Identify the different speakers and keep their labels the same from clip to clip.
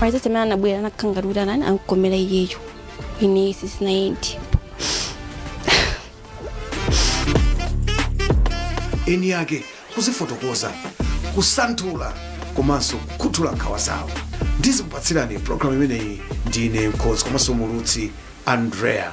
Speaker 1: Maitete amene anabwera anakhala ngati kuti anani ankomera iyeyo ine sisinayendi
Speaker 2: eni yake kuzifotokoza kusanthula komanso kukhuthula nkhawa zawo ndikukupatsirani programu imeneyi ndine mkonzi komanso mulutsi andrea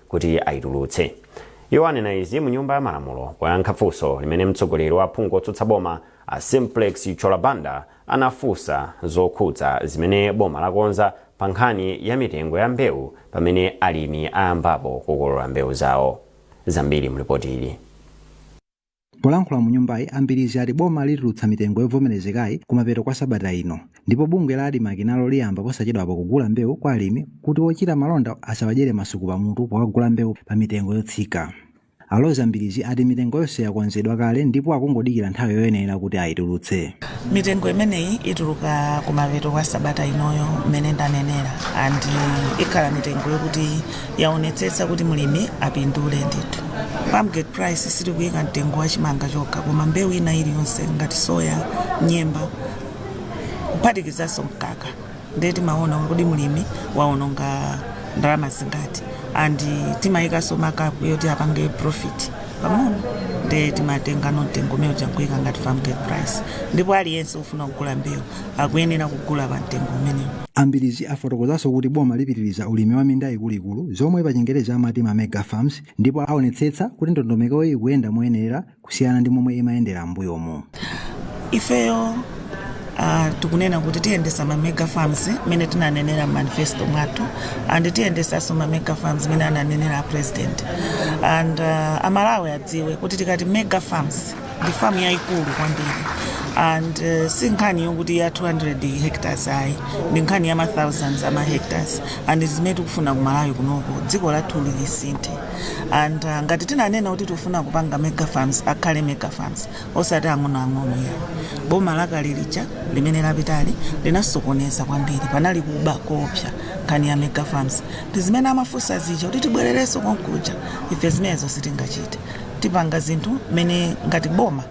Speaker 3: kuti aitulutse. Iwo anena izi mu nyumba ya malamulo poyankha funso limene mtsogoleri wa aphungu otsutsa boma a Simplex Chithyola Banda anafunsa zokhudza zimene boma lakonza pa nkhani ya mitengo ya mbewu pamene alimi ayambapo kukolola mbewu zawo. Zambiri mu lipoti ili.
Speaker 4: Polankhula mu nyumbayi, a Mbilizi ati boma litulutsa mitengo yovomerezekayi kumapeto kwa sabata ino ndipo bungwe la Admarc nalo liyamba posachedwapa kugula mbewu kwa alimi kuti ochita malonda asawadyere masuku pamutu powagula mbewu pa mitengo yotsika. A Roza Mbilizi ati mitengo yonse yakonzedwa kale ndipo akungodikira nthawi yoyenera kuti ayitulutse. Mitengo
Speaker 5: imeneyi ituluka kumapeto kwa sabata inoyo mmene ndanenera and ikhala mitengo yokuti yaonetsetsa kuti mlimi apindule ndithu farmgate price sitikuyika mtengo wa chimanga chokha koma mbewu ina iliyonse ngati soya nyemba kuphatikizanso mkaka ndiye timaona kuti mlimi waononga ndalama zingati and timayikanso markup yoti apange profit pang'ono ndiye timatenga mtengo umene uja nkuyika ngati farmgate price ndipo aliyense ofuna kugula mbewu akuyenera kugula pa mtengo umenewu. A Mbilizi afotokozanso
Speaker 4: kuti boma lipitiriza ulimi wa minda ikuluikulu zomwe pa chingerezi amati ma mega farms ndipo aonetsetsa kuti ndondomekoyi ikuyenda moyenera kusiyana ndi momwe imayendera m'mbuyomu. Ifeyo
Speaker 5: ah, tikunena kuti tiyendesa ma mega farms mene tinanenera manifesto mwathu and tiyendesanso ma mega farms mene ananenera a president and ah, amalawi adziwe kuti tikati mega farms ndi famu yayikulu kwambiri and uh, si nkhani yokuti ya 200 hectares ayi ndi nkhani ya ma thousands ama hectares and zimene tikufuna ku malawi kunoko dziko lathu lisinthe and uh, ngati tinanena kuti tikufuna kupanga mega farms akhale mega farms osati ang'onoang'ono a boma lakale lija limene lapitali linasokoneza kwambiri panali kuba koopsa nkhani ya mega farms ndi zimene amafunsa zija kuti tibwererenso konkuja ife zimenezo sitingachite tipanga zinthu mmene ngati boma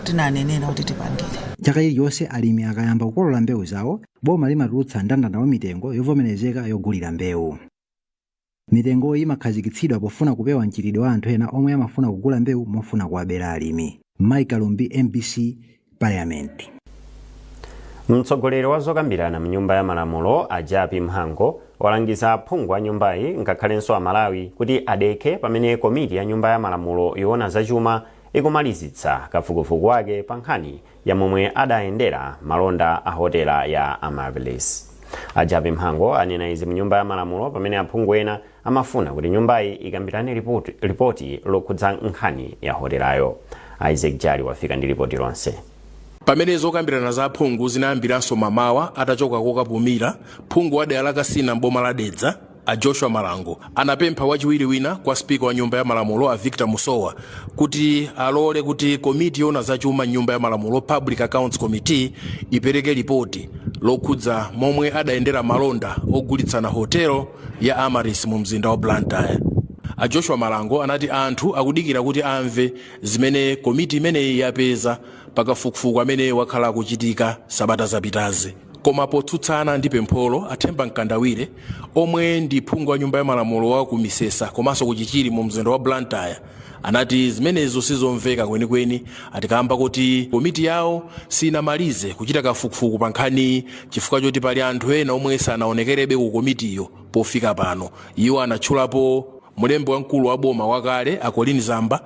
Speaker 5: tinanenera kuti tipangire chaka chilichonse
Speaker 4: alimi akayamba kukolola mbewu zawo boma limatulutsa ndandanda wa mitengo yovomerezeka yogulira mbewu mitengoyi imakhazikitsidwa pofuna kupewa mchitidwe wa anthu ena omwe amafuna kugula mbewu mofuna kuwabera alimi mike kalumbi mbc parliament.
Speaker 3: Mtsogoleri wa zokambirana mnyumba ya malamulo a Japi Mhango walangiza aphungu a nyumbayi ngakhalenso Amalawi kuti adekhe pamene komiti ya nyumba ya malamulo yoona zachuma ikumalizitsa kafukufuku wake pa nkhani ya momwe adayendera malonda a hotela ya Amaryllis. A Japi Mhango anena izi mnyumba ya malamulo pamene aphungu ena Amafuna kuti nyumbayi ikambirane lipoti lokhudza nkhani ya hotelayo. Isaac Jali wafika ndi lipoti lonse. Pamene
Speaker 6: zokambirana za aphungu zinayambiranso mamawa atachoka kokapumira, phungu wa dera la Kasina m'boma la Dedza, a Joshua Malango, anapempha wachiwiri wina kwa Speaker wa Nyumba ya Malamulo, a Victor Musowa, kuti alole kuti komiti yoona za chuma m'Nyumba ya Malamulo, Public Accounts Committee, ipereke lipoti lokhudza momwe adayendera malonda ogulitsana hotel ya Amaryllis mu mzinda wa Blantyre. A Joshua Malango anati anthu akudikira kuti amve zimene komiti imeneyi yapeza pa kafukufuku amene wakhala ukuchitika sabata zapitazi. Koma potsutsana ndi pempholo, a Themba Mkandawire omwe ndi phungu wa nyumba ya malamulo wa ku Misesa komanso ku Chichiri mu mzinda wa Blantyre, anati zimenezo sizomveka kwenikweni ati kamba koti komiti yawo sinamalize kuchita kafukufuku pa nkhaniyi chifukwa choti pali anthu ena omwe sanaonekerebe ku komitiyo pofika pano iwo anatchulapo mlembi wamkulu wa boma wakale a colleen zamba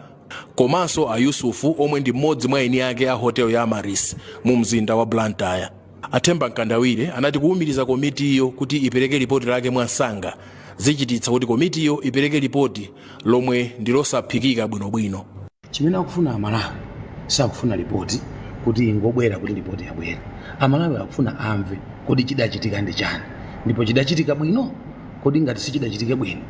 Speaker 6: komanso a yusufu omwe ndi mmodzi mwa eni ake a hotel ya amaryllis mu mzinda wa blantyre A Themba Mkandawire anati kuwumiriza komitiyo kuti ipereke lipoti lake mwamsanga zichititsa kuti komitiyo ipereke lipoti lomwe ndi losaphikika bwinobwino. Chimene akufuna
Speaker 7: Amalawi sakufuna lipoti kuti ingobwera kuti lipoti yabwera. Amalawi akufuna amve kodi chidachitika ndi chani ndipo chidachitika bwino? Kodi ngati sichidachitike bwino,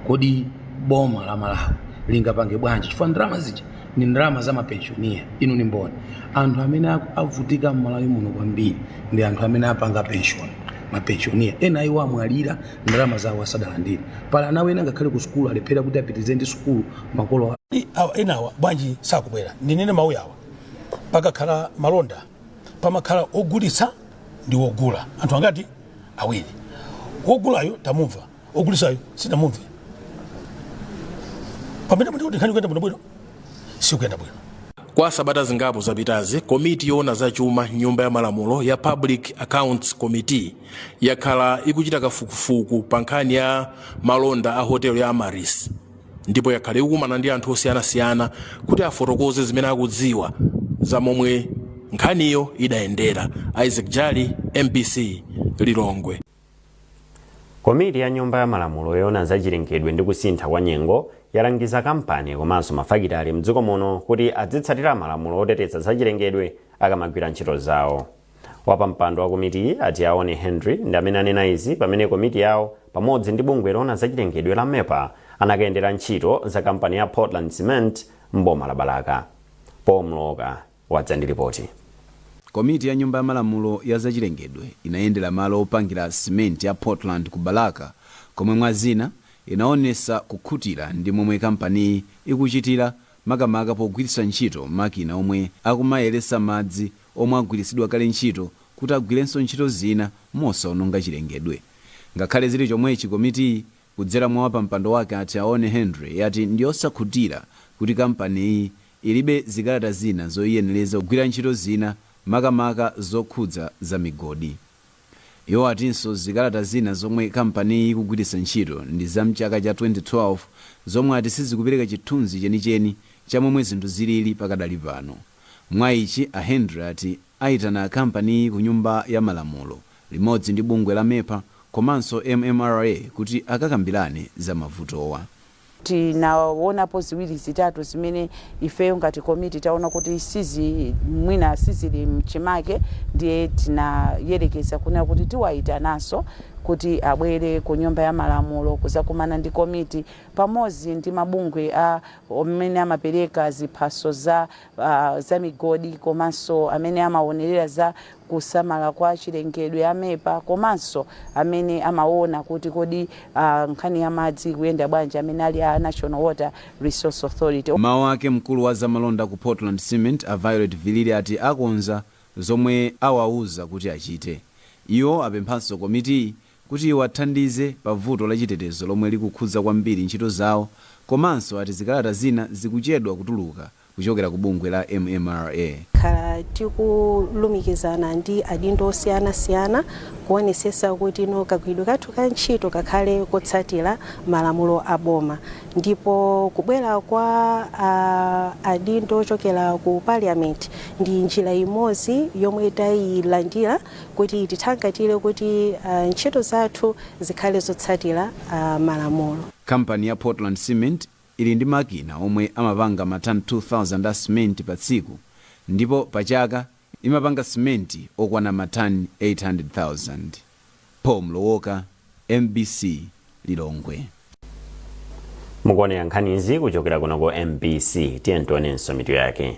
Speaker 7: kodi boma la Malawi lingapange bwanji chifukwa ndalama zija ni ndalama za mapenshoniya inu ni mboni anthu amene aku- avutika mmalawi muno kwambiri ndi anthu amene apanga penshoni mapenshoniya ena iwo amwalira ndalama zawo asadalandire pali ana ena ngakhale ku sukulu alephera kuti apitirize ndi sukulu makolo
Speaker 8: enawa bwanji sakubwera ndinene mawu yawa pakakhala malonda pamakhala ogulitsa ndi wogula anthu angati awiri wogulayo tamumva ogulisayo sitinamumve pamene muti kuti nkhani ikuyenda bwino bwino sikuyenda bwino kwa sabata
Speaker 6: zingapo zapitazi komiti yoona za chuma mnyumba ya malamulo ya public accounts committee yakhala ikuchita kafukufuku pa nkhani ya malonda a hotel ya amaryllis ndipo yakhala ikukumana ndi anthu osiyanasiyana kuti afotokoze zimene akudziwa za momwe nkhaniyo idayendera isaac jali mbc lilongwe
Speaker 3: Komiti ya Nyumba ya Malamulo yoona za chilengedwe ndi kusintha kwa nyengo yalangiza kampani komanso mafakitale mdziko muno kuti adzitsatira malamulo oteteza za chilengedwe akamagwira ntchito zawo. Wapampando wa komitiyi a Tiaone Hendry ndi amene anena izi pamene komiti yawo pamodzi ndi bungwe loona za chilengedwe la MEPA anakayendera ntchito za kampani ya Portland Cement m'boma la Balaka. Paul Mlowoka wadza ndi lipoti. Komiti
Speaker 9: ya Nyumba ya Malamulo ya zachilengedwe inayendera malo opangira simenti ya Portland ku Balaka komwe mwa zina inaonesa kukhutira ndi momwe kampaniyi ikuchitira makamaka pogwiritsa ntchito makina omwe akumayeretsa madzi omwe agwiritsidwa kale ntchito kuti agwirenso ntchito zina mosaononga chilengedwe. Ngakhale zili chomwechi komitiyi kudzera mwa wapampando wake a Tiaone Hendry yati ndiyosakhutira kuti kampaniyi ilibe zikalata zina zoyiyenereza kugwira ntchito zina makamaka zokhudza za migodi. Iwo atinso zikalata zina zomwe kampaniyi ikugwiritsa ntchito ndi za m'chaka cha 2012 zomwe ati sizikupereka chithunzi chenicheni cha momwe zinthu zilili pakadali pano. Mwa ichi a Hendry ati ayitana kampaniyi ku nyumba ya malamulo limodzi ndi bungwe la MEPA komanso MMRA kuti akakambirane za mavutowa.
Speaker 10: Tinawonapo ziwiri zitatu zimene ifeyo ngati komiti taona kuti sizi mwina sizili mchimake ndiye tinayerekeza kunena kuti tiwayitananso kuti abwere ku nyumba ya malamulo kuzakumana ndi komiti pamodzi ndi mabungwe a amene amapereka ziphaso za uh, za migodi komanso amene amawonelera za kusamala kwa chilengedwe, a MEPA, komanso amene amawona kuti kodi nkhani ya madzi ikuyenda bwanji amene ali a National Water Resource Authority. M'mawu ake mkulu wa
Speaker 9: zamalonda ku Portland Cement a Violet Vilili ati akonza zomwe awauza kuti achite. Iwo apemphanso komitiyi kuti iwathandize pa vuto la chitetezo lomwe likukhudza kwambiri ntchito zawo komanso ati zikalata zina zikuchedwa kutuluka. kuchokera ku bungwe la MMRA. Takhala
Speaker 11: tikulumikizana ndi adindo osiyana siyana kuonesesa kuti no kagwiridwe kathu ka ntchito kakhale kotsatira malamulo a boma ndipo kubwera kwa a adindo ochokera ku Parliament ndi njira imodzi yomwe tayilandira kuti itithangatire kuti ntchito zathu zikhale zotsatira malamulo. Kampani ya
Speaker 9: Portland Cement ili ndi makina omwe amapanga matani 2,000 a simenti pa tsiku ndipo pa chaka imapanga simenti okwana matani 800,000. Paul Mlowoka, MBC,
Speaker 3: Lilongwe. Mukuonera nkhanizi kuchokera kuno ku MBC. Tiyeni tionenso mitu yake.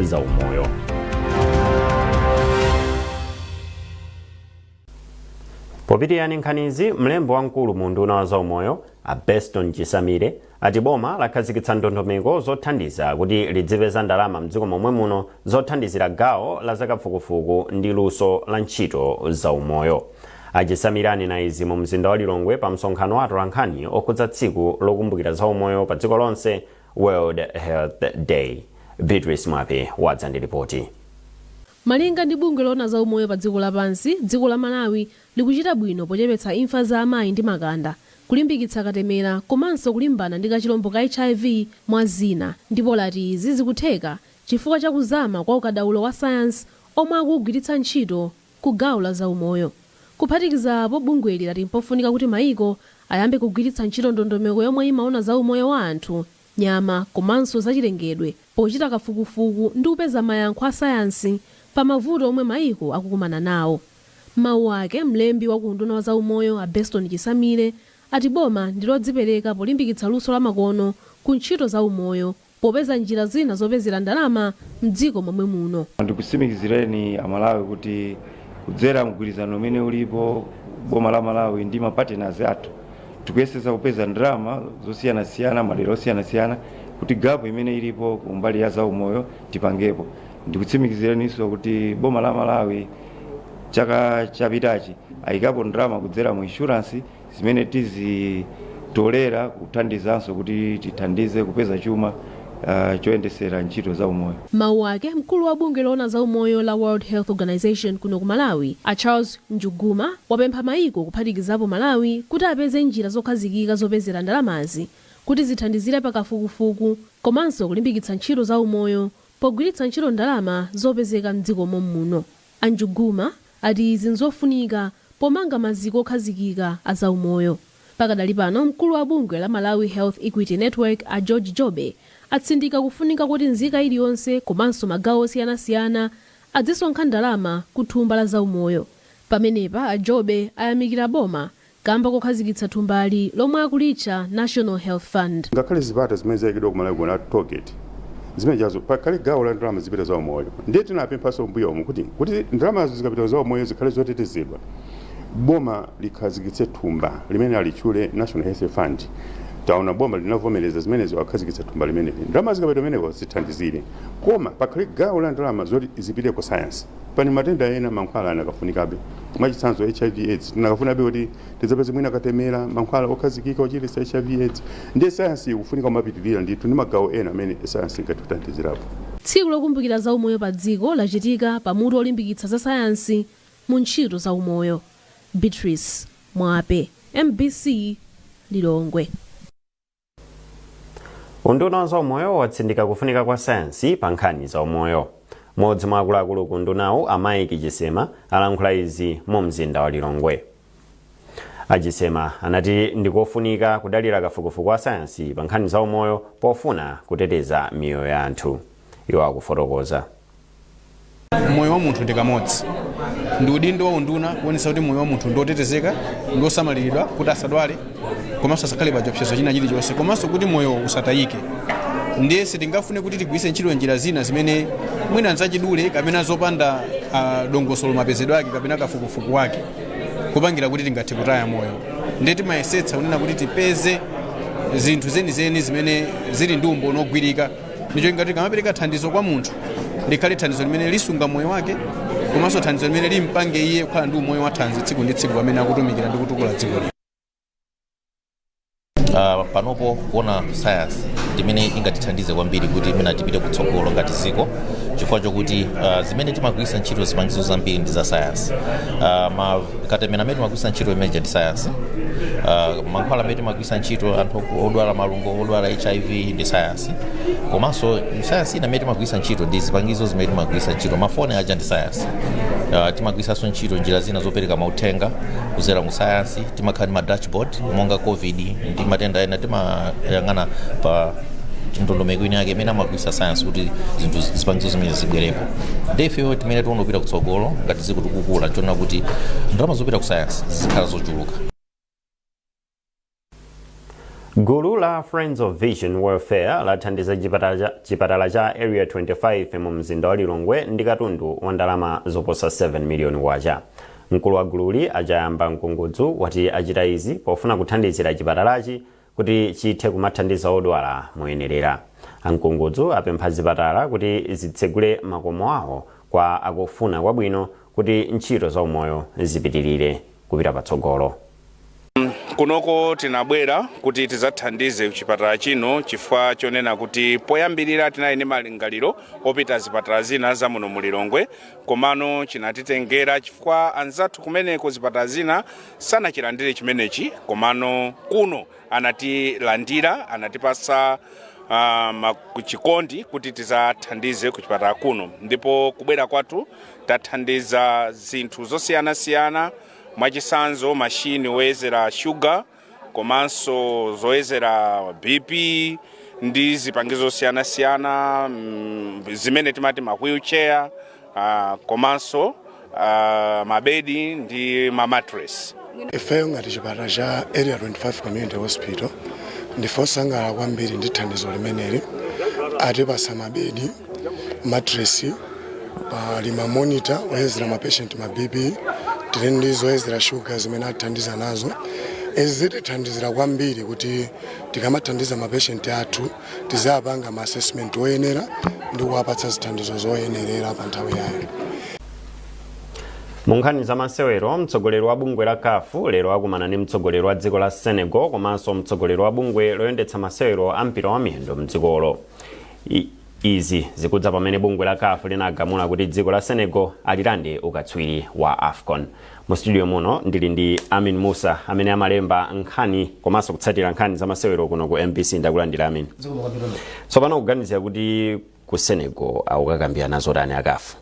Speaker 3: za umoyo popitirani nkhanizi mlembi wamkulu mu unduna wa zaumoyo a beston chisamile ati boma lakhazikitsa ndondomeko zothandiza kuti lidzipeza ndalama mdziko momwe muno zothandizira gawo la zakafukufuku ndi luso la ntchito zaumoyo a chisamile anena izi mu mzinda wa lilongwe pa msonkhano wa atolankhani okhudza tsiku lokumbukira zaumoyo pa dziko lonse World Health Day, Beatrice Mwape wadza ndi lipoti. Malinga
Speaker 12: ndi bungwe loona za umoyo pa dziko lapansi, dziko la Malawi likuchita bwino pochepetsa imfa za amayi ndi makanda, kulimbikitsa katemera komanso kulimbana ndi kachilombo ka hiv mwa zina ndipo lati izi zikutheka chifukwa cha kuzama kwa ukadaulo wa sayansi omwe akuugwiritsa ntchito ku gawo la zaumoyo. Kuphatikiza apo, bungweli lati mpofunika kuti maiko ayambe kugwiritsa ntchito ndondomeko yomwe imaona za umoyo wa anthu, nyama komanso zachilengedwe pochita kafukufuku ndi kupeza mayankho a sayansi pa mavuto omwe maiko akukumana nawo. M'mawu ake, mlembi wa ku unduna wa zaumoyo a Beston Chisamile ati boma ndi lodzipereka polimbikitsa luso lamakono ku ntchito za umoyo popeza njira zina zopezera ndalama mdziko momwe muno.
Speaker 13: Ndikutsimikizireni a Malawi kuti kudzera mgwirizano umene ulipo boma la Malawi ndi ma partners athu tikuyesetsa kupeza ndalama zosiyanasiyana madera osiyanasiyana kuti gap imene ilipo kumbali ya zaumoyo tipangepo. Ndikutsimikizireniso kuti boma la Malawi chaka chapitachi ayikapo ndalama kudzera mu insurance. zimene tizitolera kuthandizanso kuti tithandize kupeza chuma uh, choyendesera ntchito za umoyo M'mawu ake, mkulu wa
Speaker 12: bungwe loona za umoyo la World Health Organization kuno ku Malawi, a Charles Njuguma, wapempha mayiko kuphatikizapo Malawi kuti apeze njira zokhazikika zopezera ndalamazi kuti zithandizire pa kafukufuku komanso kulimbikitsa ntchito za umoyo pogwiritsa ntchito ndalama zopezeka m'dziko mom'muno. A Njuguma ati izi nzofunika pomanga maziko okhazikika a zaumoyo. Pakadali pano mkulu wa bungwe la Malawi Health Equity Network a George Jobe atsindika kufunika kuti nzika iliyonse komanso magawo osiyanasiyana adzisonkha ndalama ku thumba la zaumoyo. Pamenepa a Jobe ayamikira boma kamba kokhazikitsa thumbali lomwe akulitcha National Health Fund. Ngakhale zipata zimene
Speaker 14: zaikidwa ku Malawi kuno a toll gate zimenejazo pakhale gawo la ndalama zipita za umoyo ndiye tinapemphanso m'mbuyomu kuti kuti ndalamazo zikapita za umoyo zikhale zotetezedwa boma likhazikitse thumba limene alitchule National Health Fund taona boma linavomereza zimenezo akhazikitsa thumba limeneli ndalama zikapita kumeneko zithandizire koma pakhale gawo la ndalama zoti zipite ku science Pali matenda ena mankhwala anakafunikabe. Mwachitsanzo, HIV, aids tinakafunikabe kuti tidzapeze mwina katemera, mankhwala okhazikika ochiritsa HIV, aids. Ndiye sayansi ikufunika kumapitirira ndithu ndi magawo ena amene sayansi ingathe kuthandizirapo. Tsiku
Speaker 12: lokumbukira za umoyo pa dziko lachitika pa mutu olimbikitsa za sayansi mu ntchito za umoyo. Beatrice Mwape, mbc, Lilongwe.
Speaker 3: unduna wa zaumoyo watsindika kufunika kwa sayansi pa nkhani za umoyo mmodzi mwa akuluakulu ku undunawu a Mike Chisema alankhula izi mu mzinda wa lilongwe a Chisema anati ndikofunika kudalira kafukufuku wa sayansi pa nkhani za umoyo pofuna kuteteza miyoyo ya anthu iwo akufotokoza
Speaker 15: moyo wa munthu ndi kamodzi ndi udindo wa unduna kuonetsetsa kuti moyo wa munthu ndi otetezeka ndi osamaliridwa kuti asadwale komanso asakhale pa chiopsezo china chilichonse komanso kuti moyo usatayike ndiye sitingafune kuti tigwiritse ntchito njira zina zimene mwina nzachidule kapena zopanda ah, dongosolo mapezedwe ake kapena kafukufuku wake kupangira kuti tingathe kutaya moyo ndiye timayesetsa kunena kuti tipeze zinthu zenizeni zimene zili ndi umboni wogwirika ndicho ngati tikamapereka thandizo kwa munthu likhale thandizo limene lisunga moyo wake komanso thandizo limene limpange iye kukhala ndi umoyo wathanzi tsiku ndi tsiku pamene akutumikira ndi kutukula dziko uh,
Speaker 16: panopo kuona sayansi imene ingatithandize kwambiri kuti imene tipite kutsogolo ngati dziko chifukwa chokuti uh, zimene timagwiritsa ntchito zipangizo zambiri ndi za sayansi uh, katemera amene timagwiritsa ntchito imene ija ndi sayansi uh, mankhwala amene timagwiritsa ntchito anthu odwala malungo odwala hiv ndi sayansi komanso sayansi ina imene timagwiritsa ntchito ndi zipangizo zimene timagwiritsa ntchito mafoni aja ndi sayansi Uh, timagwiritsanso ntchito njira zina zopereka mauthenga kudzera mu sayansi timakhala ndi ma dashboard monga covid ndi matenda ena timayang'ana pa ndondomeko ina yake imene amagwiritsa sayansi kuti zinthu zi- zipangizo zimene zibwerepo ndi ifeyo timene tiwonopita kutsogolo ngati dziko tikukula tiona kuti ndalama zopita ku sayansi zizikhala zochuluka
Speaker 3: gulu la friends of vision welfare lathandiza chipatala cha area 25 mu mzinda wa lilongwe ndi katundu wa ndalama zoposa 7 miliyoni kwacha mkulu wa gululi a Chayamba mkungudzu wati achita izi pofuna kuthandizira chipatalachi kuti chithe kumathandiza odwala moyenerera a Mkungudzu apempha zipatala kuti zitsegule makomo awo kwa akufuna kwabwino kuti ntchito za umoyo zipitirire kupita patsogolo
Speaker 17: kunoko tinabwera kuti tizathandize chipatala chino chifukwa chonena kuti poyambirira tinali ndi malingaliro opita zipatala zina za muno mu lilongwe komano chinatitengera chifukwa anzathu kumeneko zipatala zina sanachilandire chimenechi komano kuno anatilandira anatipasa uh, chikondi kuti tizathandize ku chipatala kuno ndipo kubwera kwathu tathandiza zinthu zosiyanasiyana Mwachitsanzo, mashini oyezera shuga komanso zoyezera BP ndi zipangizo zosiyanasiyana mm, zimene timati ma wheelchair ah, komanso ah, mabedi ndi ma mattress. ifeyo ngati
Speaker 18: chipatala cha area 25 community hospital ndife osangalala kwambiri ndi thandizo limeneli atipasa mabedi matresi pali ma monitor oyezera ma patient ma bp tili ndi zoyezera shuga zimene atithandiza nazo izi zitithandizira kwambiri kuti tikamathandiza ma patient athu tizapanga ma assessment oyenera ndi kuwapatsa zithandizo zoyenerera pa nthawi yayo
Speaker 3: mu nkhani za masewero mtsogoleri wa bungwe la caf lero akumana ndi mtsogoleri wa dziko la senegal komanso mtsogoleri wa bungwe loyendetsa masewero a mpira wa miyendo mdzikolo I- izi zikudza pamene bungwe la caf linagamula kuti dziko la senegal alilande ukatswiri wa afcon mu studio muno ndili ndi amin musa amene amalemba nkhani komanso kutsatira nkhani za masewero kuno ku mbc ndakulandira amin tsopano kuganizira kuti ku senegal akukakambirana zotani a caf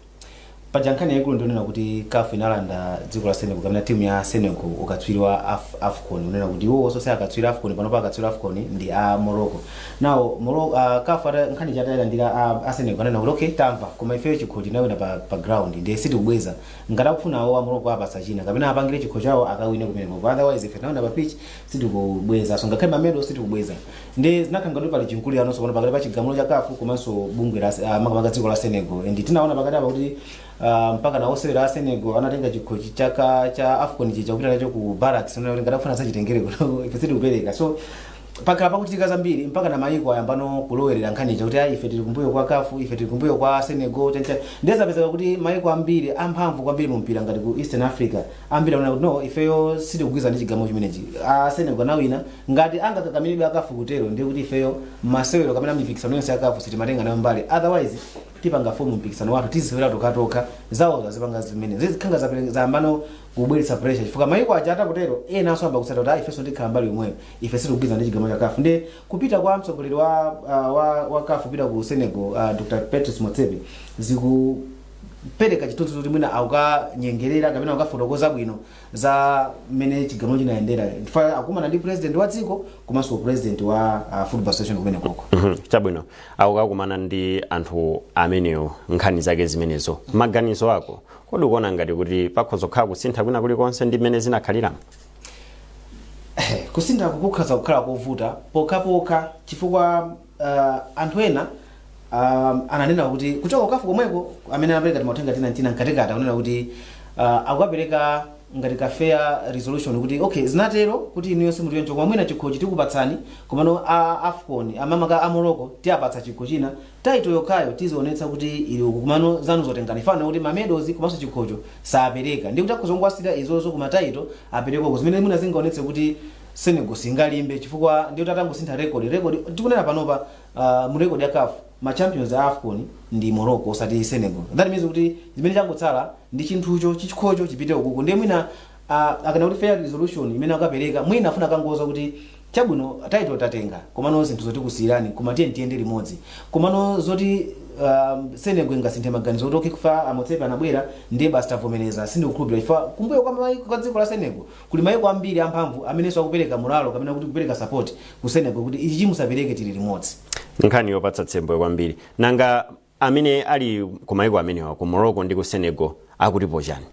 Speaker 3: paja nkhani
Speaker 19: yaikulu ndi yonena kuti caf inalanda dziko la senegal kapena timu ya senegal ukatswiri wa Af- afcon unena kuti iwo osose akatswiri afcon panopa akatswiri afcon ndi a morocco nawo Moro- uh, caf ata- nkhani ija atayilandira a- a senegal anena kuti okay tamva koma ifeyo chikho tinawina pa, pa ground ndiye sitikubweza ngati akufuna awo a morocco apasa china kapena apangire chikho chawo akawine kumeneko otherwise ife tinawina pa pitch sitikubweza so ngakhale mamedo sitikubweza nde zinakhala ngati pali chimkulirano tsopano pakati pa chigamulo cha caf komanso bungwe la ah, makamaka dziko la senegal and tinaona pakati apa kuti ah, mpaka na osewera a senegal anatenga chikho chi- chaka cha afcon chija kupita nacho ku barracks kunena kuti ngati akufuna azachitengere kuno ife sitikupereka so pakhala pakuchitika zambiri mpaka na mayiko ayambano kulowerera nkhani ija kuti ayi ife tili kumbuyo kwa caf ife tili kumbuyo kwa senegal tencha nde zapezeka kuti mayiko ambiri amphamvu kwambiri mu mpira ngati ku eastern africa ambiri akunena kuti no ifeyo sitikugwirizana ndi chigamulo chimenechi a senegal anawina ngati angakakamiridwe a caf kutero ndiye kuti ifeyo masewero kapena mipikisano yonse ya caf sitimatenga nayo mbali otherwise tipanga form mpikisano wathu tizisewera tokatoka zawo zazipanga zimene zikukhala ngati zapere- zayambano kubweretsa pressure chifukwa mayiko aja atakutero enanso ayamba kutsata kuti "Ah, ifenso tikhala mbali yomweyo ife sitikugwirizana ndi chigamulo cha caf ndiye kupita kwa mtsogoleri wa, ah, wa, wa caf kupita ku senegal uh, dr patrice motsepe ziku kupereka chithunzi kuti mwina akukanyengerera kapena akukafotokoza bwino za mmene chigamulo chinayendera chifukwa akumana ndi president wa dziko komanso president wa uh, football association kumene koko Mhm, chabwino
Speaker 3: akukakumana ndi anthu amenewo nkhani zake zimenezo maganizo ako kodi ukuona ngati kuti pakhoza kukhala kusintha kwina kulikonse ndi mmene zinakhaliramo
Speaker 19: kusintha kukhoza kukhala kovuta pokhapokha chifukwa uh, anthu ena um, ananena kuti kuchoka ku CAF komweko amene anapereka timauthenga tina ntina mkatikati akunena kuti uh, akukapereka ngati ka fair resolution kuti okay zinatero kuti inuyo simutionjoka koma mwina chikhochi tikupatsani komano a afcon makamaka a morocco tiapatsa chikho china title yokhayo tizionetsa kuti ili uku komano zanu zotenga zija kaya ndi ma medals komanso chikhocho sapeleka ndi kuti akhoza kungowasiyira izozo koma title apereka uku zimene mwina zingaonetse kuti Senegal singalimbe chifukwa ndiye kuti atangosintha record record tikunena panopa uh, mu record ya CAF ma champions a AFCON ndi Morocco osati Senegal that means kuti zimene changotsala ndi chinthucho chikhocho chipite ukuku ndiye mwina uh, akunena kuti fair resolution imene akapereka mwina afuna akangowauza kuti chabwino title tatenga komano zinthuzo tikusiyirani koma tiye tiyende limodzi komano zoti um, Senegal ingasinthe maganizo kuti okay chifukwa a Motsepe anabwera ndiye basi tavomereza sindikukhulupirira chifukwa kumbuyo kwa maiko kwa dziko la Senegal Kuli maiko ambiri amphamvu amenenso akupereka moralo kapena kuti kupereka support ku Senegal kuti ichichi musapereke tili limodzi. Nkhani yopatsa
Speaker 3: tsembwe kwambiri. Nanga amene ali ku maiko amenewa ku Morocco ndi ku Senegal akutipo chani?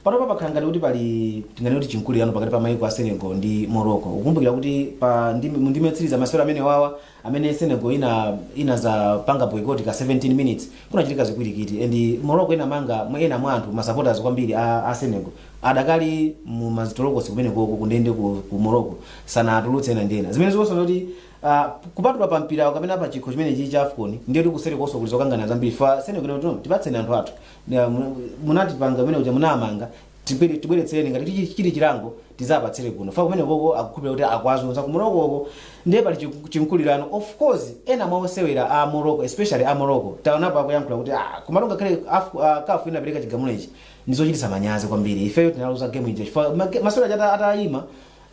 Speaker 19: Panopa pakhala ngati kuti pali tinganene kuti chimkulirano pakati pa maiko a Senegal ndi Morocco. Ukumbukira kuti pa ndime, mu ndime yotsiriza masewero amenewawa amene senegal ina inazapanga boycott ka 17 minutes kunachitika zipwirikiti and morocco inamanga mwa- ena mwa anthu masupporters kwambiri a, a senegal adakali mu m'zitolokosi kumene koko kundende ku, ku morocco sanatulutse ena ndi ena zimene zikuonetsa kuti Uh, kupatula pa mpira kapena pa chikho chimene chili cha afcon ndiye kuti kuseri konso kuli zokangana zambiri fa senegal ikuti tipatseni anthu athu Ndi, ah, mu- munatipanga kumene kuti munamanga tibwere tibweretsereni ngati chi- chili chilango tizapatsire kuno fa kumene koko akukhulupirira kuti akuwazunza ku moroccoko ndiye pali chiku- chimkulirano of course ena mwa osewera a morocco especially a morocco taonapo akuyankhula kuti ah komatu ngakhale Af- ah, CAF inapereka chigamulo ichi ndizochititsa manyazi kwambiri ifeyo tinaluza game ija chifukwa ma- masewero aja ata- atayima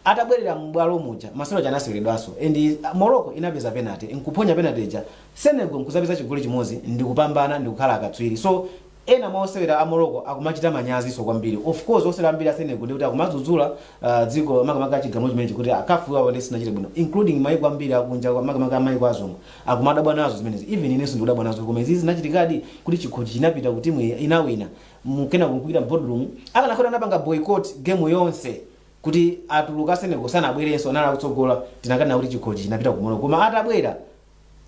Speaker 19: atabwerera m'bwalo muja masewero aja anaseweredwanso and uh, morocco inapeza penalty nkuphonya penalty ija senegal nkuzapeza chigoli chimodzi ndikupambana ndikukhala akatswiri so Ena mwa osewera a Morocco akumachita manyazinso kwambiri. Of course osewera ambiri a Senegal ndiye kuti akumadzudzula ah, dziko makamaka chigamulo chimenechi kuti ah, CAF apapa ndiye sinachite bwino including maiko ambiri akunja kwa- makamaka maiko azungu akumadabwa nazo zimenezi even inenso ndikudabwa nazo koma izi zinachitikadi kuti chikhochi chinapita ku timu iyi inawina mu kunena kuti mu boardroom akanakhala anapanga boycott game yonse kuti atuluka Senegal sanabwerenso anali akutsogola tikanati kuti chikhochi chinapita ku Morocco koma atabwera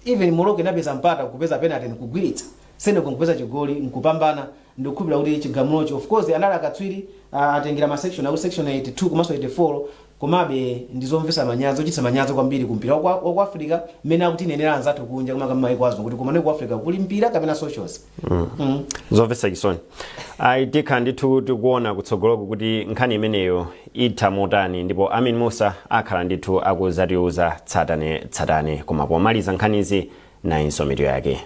Speaker 19: even Morocco inapeza mpata nkupeza penalty nkugwilitsa, Senegal nkupeza chigoli nkupambana, ndikukhulupilira kuti chigamulochi of course anali akatswiri ah, atengera ma section akuti section 82 komanso 84 komabe ndi zomvesa manyazi ochititsa manyazi kwambiri ku mpira wa ku- wa ku africa mmene akutinenera anzathu kunja koma kama maiko azungu kuti komane ku africa kuli mpira kapena socials
Speaker 3: zomvetsa chisoni ayi tikhala ndithu tikuona kutsogoloko kuti nkhani imeneyo itha motani ndipo amin musa akhala ndithu akuzatiuza tsatane tsatane koma pomaliza nkhanizi nayinso mitu yake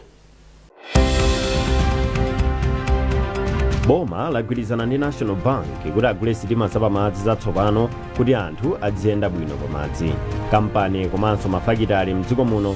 Speaker 3: boma lagwirizana ndi national bank kuti agule sitima zapamadzi zatsopano kuti anthu adziyenda bwino pamadzi kampani komanso mafakitale mdziko muno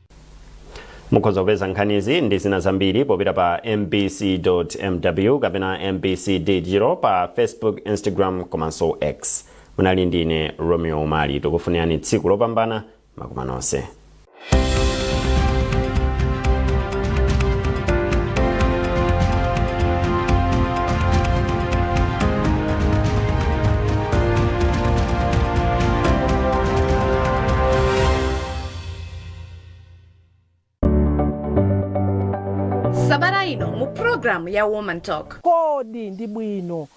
Speaker 3: mukhoza kupeza nkhanizi ndi zina zambiri popita pa mbc.mw kapena mbc digital pa facebook instagram komanso x munali ndine romeo umali tikufunirani tsiku lopambana Wakoma nonse
Speaker 20: sabata
Speaker 21: ino
Speaker 20: mu program ya woman
Speaker 21: talk.
Speaker 20: Kodi ndi bwino